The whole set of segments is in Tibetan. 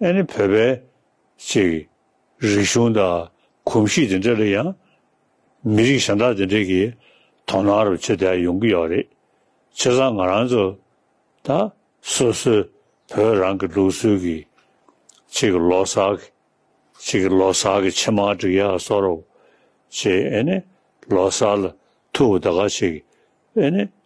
ཨེ་ནི་བོད་པའི་ཅིག། རིག་གཞུང་དང་གོམས་གཤིས་དེ་འདྲ་ལ་ཡང། མི་རིགས་གཞན་དག་དེ་འདྲས་ཀྱིས། དོ་སྣང་རབ་བྱེད་དེ་ཡོང་གི་ཡོད་རེད། ཆེ་ཚང་ང་རང་ཚོ་དང། སོ་སོའི་བོད་རང་གི་ལུགས་སྲོལ་གྱི། ཅིག་ལོ་སར་གྱི། ཅིག་ལོ་སར་གྱི་ཕྱེ་མར་འགྲིག་ཡག་གསོ་རོགས། ཅེས་ཨེ་ནི་ལོ་སར་ལ་ཐུག་དགའ་ཅིག། ཨེ་ནི་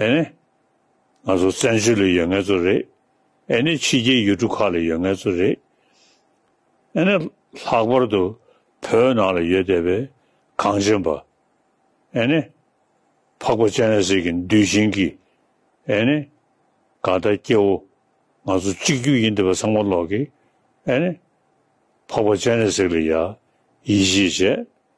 ཨེ་ནི། ང་ཚོ་བཙན་བྱོལ་ལ་ཡོད་ངེས་ཚོ་རེད། ཨེ་ནི་ཕྱི་རྒྱལ་ཡུལ་གྲུ་ཁག་ལ་ཡོད་ངེས་ཚོ་རེད། ཨེ་ནི་ལྷག་པར་དུ་བོད་ནང་ལ་ཡོད་བསྡད་པའི་གངས་ཅན་པ། ཨེ་ནི། འཕགས་པ་སྤྱན་རས་གཟིགས་ཀྱི་འདུལ་བྱིན་གྱིས། ཨེ་ནི། དགའ་ལྟ་སྐྱེ་བོ་ང་ཚོ་གཅིག་གྱུར་ཡིན་བསྡད་པ་ཚང་མ་ཀློག་གིས། ཨེ་ནི། འཕགས་པ་སྤྱན་རས་གཟིགས་ལ་ཡ། ཡིད་ཆེས་བྱས།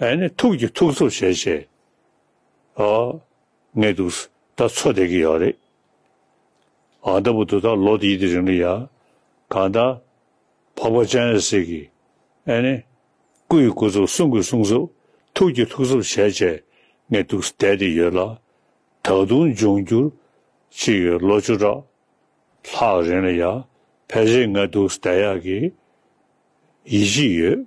ཨེ་ནི་ཐུགས་ཀྱི་ཐུགས་གཙོ་བྱས་བྱས། ཨ། ངས་འདུག་ཟེར་ད་འཚོ་བསྡད་ཀྱི་ཡོད་རེད། ཨ་ལྟ་བུ་འདུག་ད་ལོ་དེའི་དེ་རིང་གི་ཡ། གང་ལྟ། འཕགས་པ་ལྕང་ཡང་ཟེར་གི། ཨེ་ནི། སྐུ་ཡི་སྐུ་གཙོ་གསུང་གི་གསུང་གཙོ། ཐུགས་ཀྱི་ཐུགས་གཙོ་བྱས་བྱས། ངས་འདུག་བསྡད་དེ་ཡོད་ལ། ད་དུང་འབྱུང་འགྱུར། ཅི་ཡོད་ལོ་བཅུ་ཕྲག། ལྷག་རིང་ལ་ཡ། ཕལ་ཆེར་ངས་འདུག་བསྡད་ཡག་གི། ཡིད་ཆེས་ཡོད།